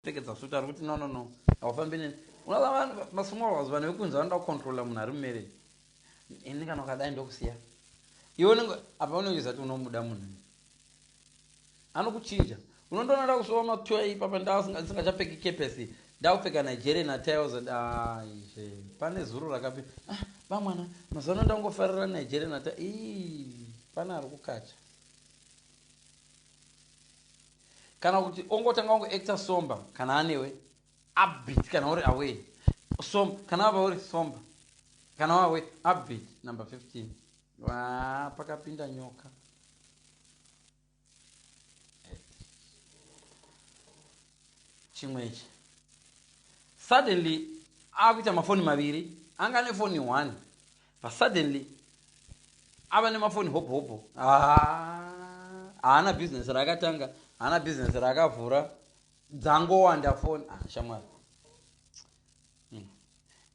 Pfekedza suit ari kuti no no no haufambi neni. Unoziva vanhu masmall house vanhu vekunze vanoda kucontrolla munhu ari mumarriage. Ini kana ukadai ndokusiya. Iwe unenge apa unenge uchiziva kuti unomuda munhu. Anokuchinja. Unondoona ndakusuva matoya ipapa ndasingachapfeki kepesi ndakupfeka nigeria natiles and aizve ah, pane zuro rakapi ah, vamwana mazuva ano ndangofarira nigeria nati ii pane ari kukacha kana kuti ongotanga wangu actor somba kana anewe upbeat kana uri away som kana wava uri somba kana wawe upbeat number 15 waa pakapinda nyoka chimwe ichi suddenly akuita mafoni maviri anga ane foni one but suddenly ava nemafoni hope hope haana business raakatanga haana business raakavhura dzangowanda foni ah, shamwari hmm.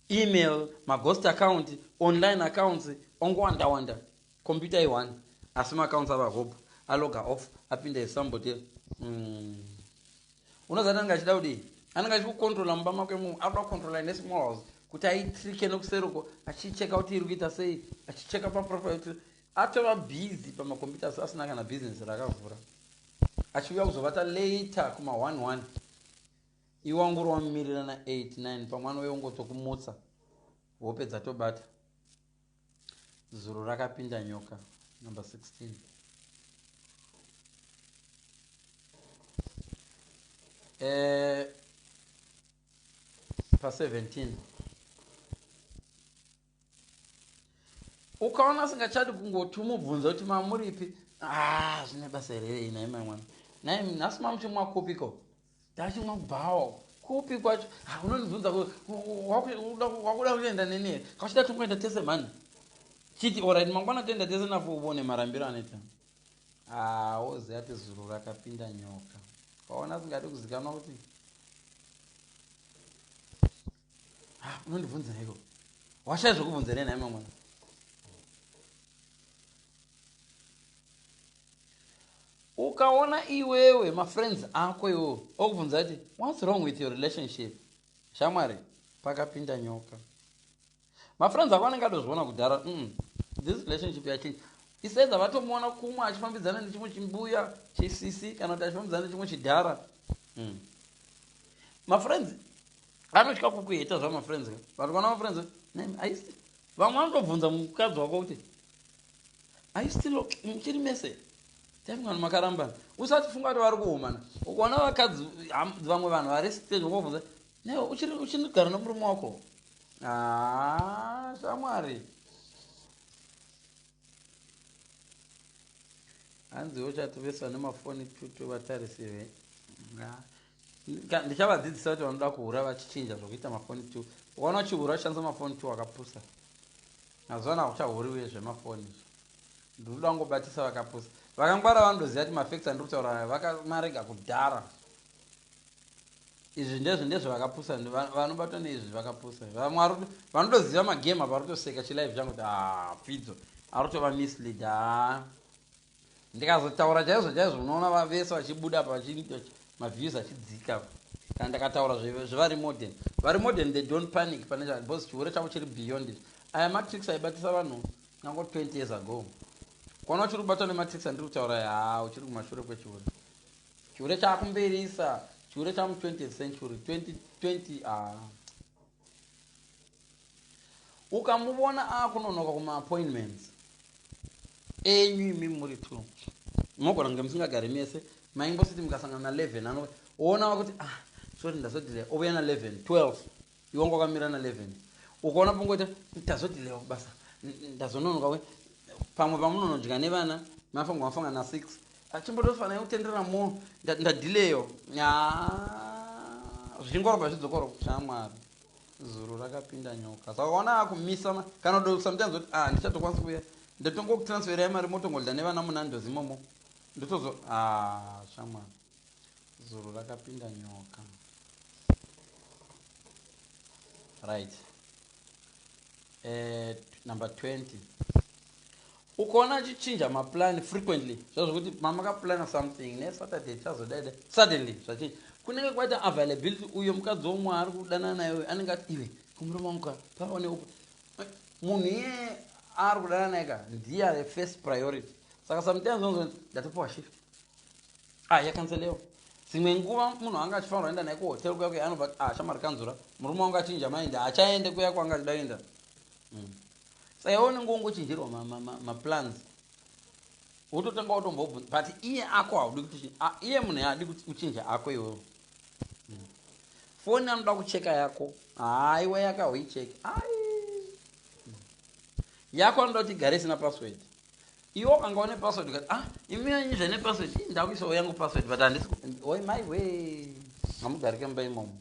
email maghost account online accounts ongowanda wanda computer i-one asi maaccounts ava hope aloga off apinda esambotera mm. Unozati anenge achida kudii? Anenge achida kucontrola mumba make mu anoda kucontrola ine small house kuti aitrike nokuseri uko achicheka kuti iri kuita sei achicheka paprofile kuti atova busy pamacomputers asina kana business raakavhura achiuya kuzovata later kuma 11 iwe wangori wamumirira na 89 pamwe anouya ungotokumutsa hope dzatobata Zuro rakapinda nyoka number 16. Eh, pa 17 ukaona asingachadi kungoti umubvunza kuti mamuripi ah, zvine basa here ina imamwana nai nhasi mamuti mwakupiko Ndachimwa kubhawa uko. Kupi kwacho? Ha unondibvunza wakuda kuenda neni here? Kachida tongoenda tese mhani. Chiti alright mangwana toenda tese nafo ubone marambiro anoita. Ah, woziva ati zuru rakapinda nyoka. Kaona asingadi kuzikanwa kuti Ah, unondibvunza iko washaya zvokubvunza nei nhai mamwana ukaona iwewe mafriends ako iwo okubvunza kuti whats wrong with your relationship shamwari pakapinda nyoka mafriends ako anenge atozviona kudhara mm, this relationship yachinge isaiza vatomuona kumwe achifambidzana nechimwe chimbuya chisisi kana kuti achifambidzana nechimwe chidhara mm. mafriends anotya kukuheta zvamafriends ka but vana mafriends aisi vamwe vanotobvunza mukadzi wako kuti aistil muchiri mese taimwana makarambana usati funga kuti vari kuhumana ukaona vakadzi vamwe vanhu vari stage vakubvunza ne uchinigara nomurume wako haa shamwari hanziwo chati vese vane mafoni tutu vatarisirei ndichavadzidzisa kuti vanoda kuhura vachichinja zvokuita mafoni t ukaona uchihura uchishandisa mafoni t wakapusa mazuva ano hakuchahuri uye zvemafoni izvo ndinoda kungobatisa vakapusa vakangwara vanotoziva kuti mafacts andiri kutaura aya vakamarega kudhara izvi ndezvo ndezvo vakapusa vanobatwa neizvi vakapusa vamwari vanotoziva magame apa arikutoseka chilive changu kuti haa ah, pfidzo arikutova mislead haa ah. ndikazotaura chaizvo chaizvo unoona vavese vachibuda apa maviews achidzika apa kana ndakataura zvevari modern vari modern they don't panic pane chaa because chihure chavo chiri beyond it aya matrix aibatisa vanhu nango 20 years ago kuona uchiri kubatwa nematrix andiri kutaura yaa uchiri kumashure kwechihure chihure chaakumberisa chihure chamu 20th century 2020 aa ah. ukamuvona akunonoka kuma appointments enyu imi muri two mogona kunge musingagari mese maimbositi mukasangana na 11 ano uona wakuti ah soti ndazodilea ovuya na 11 12 iwanga wakamira na 11 ukaona pongoti ndazodilewa kubasa ndazononoka pamwe pamunonodya nevana mafango mafanga na 6 Achimbodoswa naye kutenderera mo ndadileyo nyaa zvichingorova zvidzokoro shamwari zuru rakapinda nyoka saka ukaona akumisa kana kudo sometimes kuti ah ndichatokwanisa kuuya ndotongokutransferai mari motongodya nevana munandos imomo ndotozo ah shamwari zuru rakapinda nyoka right eh, number 20 Ukaona achichinja maplan frequently zviya zvekuti mamakaplana something ne Saturday tichazodai dai suddenly zvachinja kunenge kwaita availability uyo mukadzi womwe waari kudanana naye uyo anenge ati iwe kumurume wangu ka pava ne upa munhu iyeye aari kudanana naye ka ndiye are first priority saka sometimes unozoti ndatopiwa shift ah yakanselewa dzimwe nguva munhu anga achifanirwa enda naye kuhotel kuya kuya anobva ah shamwari kanzura murume wangu achinja maindi haachaende kuya kwanga achida kuenda Mm. Saka iwe unenge wongochenjerwa ma, ma, ma, ma plans wototanga watombobvunza but iye ako haudi kuti a- iye munhu yaadi kuti uchinja ako iwewo Mm. foni anoda kucheka yako haiwa yako hauicheki ai Mm. yako anoda kuti igare isina password iwe ukanga une password ukati ah imi yanyu zvane password ii ndakuisawo yangu password but handisi ku- oi mai we hamugarike mumba imomo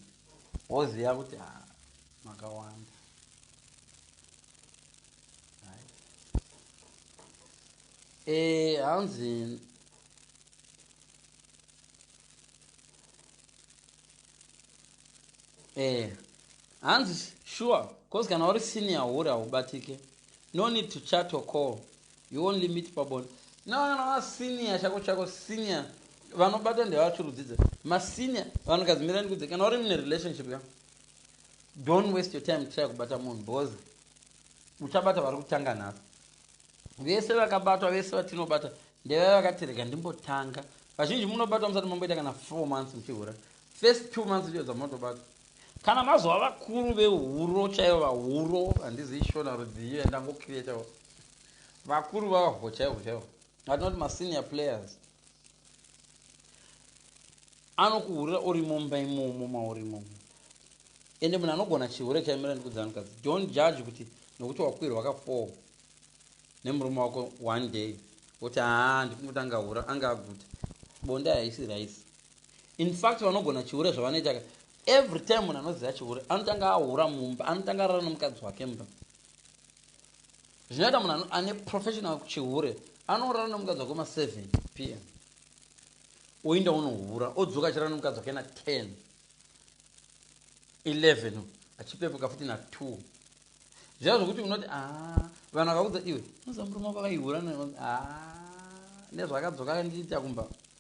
woziva kuti ah makawanda Hai. Eh, hanzi eh hanzi sure cause kana uri senior hure haubatike no need to chat or call you only meet pabonde no kana wa senior chako chako senior vanobata ndevachurudzidza masenior vanhu kadzimirani kudze kana uri mune relationship ya Don't waste your time kuchaya kubata munhu boza muchabata vari kutanga nhasi vese vakabatwa vese vatinobata ndevaya vakatirega ndimbotanga vazhinji munobatwa musati mamboita kana four months muchihura first two months ndiyo dzamunotobatwa kana mazova vakuru vehuro chaivo vahuro handizi ishona rudziyo yandangokiretawo vakuru vavahwo chaivo chaivo vatinoti masenior players anokuhurira uri mumba imomo mauri imomo ende munhu anogona chihure chaimira ndikudzi anhukadzi don't judge kuti nokuti wakwirwa wakafoo nemurume wako one day woti haa ndikumuti angahura anga aguta bonde haisi raisi in fact vanogona chihure zvavanoita ka every time munhu anoziva chihure anotanga ahura mumba anotanga arara nomukadzi wake mumba zvinoita munhu ane professional chihure anorara nemukadzi wake ma 7 pm oinda unohura odzoka achirara nemukadzi wake na 10 11 achipepuka futi na 2 zviya zvokuti unoti a ah, vanhu vakaudza iwe unoza murume wako akaihura ah, nezvaakadzoka ndiita kumba